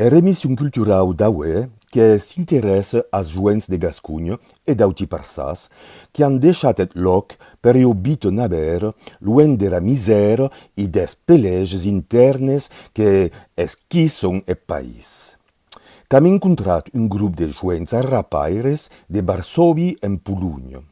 Er emission culturau d'aué que s'interèsse as joents de Gasconha e d'auti parças que an deishat eth lòc per ua vita naber luenh dera misèra e des pelèges intèrnes que esquisson eth país. Qu'am encontrat un grop de joents arrapaires de Varsòvi en Polonha.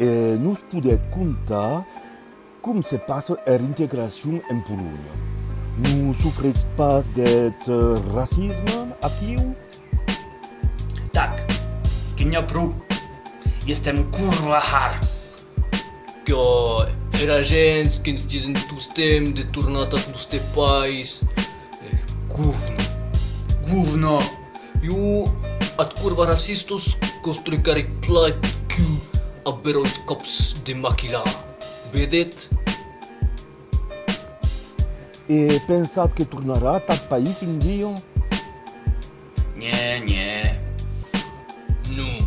E nos podèt contar com se passa er integracion en Polonha? Non sofretz pas deth racisme aquiu? Tac, que n'i a pro, i estem curva har! Que era gent que'ns disen tostemp de tornar tath noste país, govno, govno! Iu at curva racistus construi caric plaid quiu a berois cops de maquilà. Vedèt? E pensat que tornarà t'ath país un dia? Nhè, nhè. Non,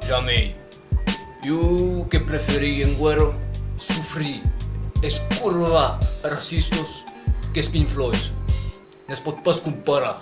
jamei. Iu que preferir en guèrra sofrir es curva racistus qu'es pinflois. Ne's pòt pas comparar.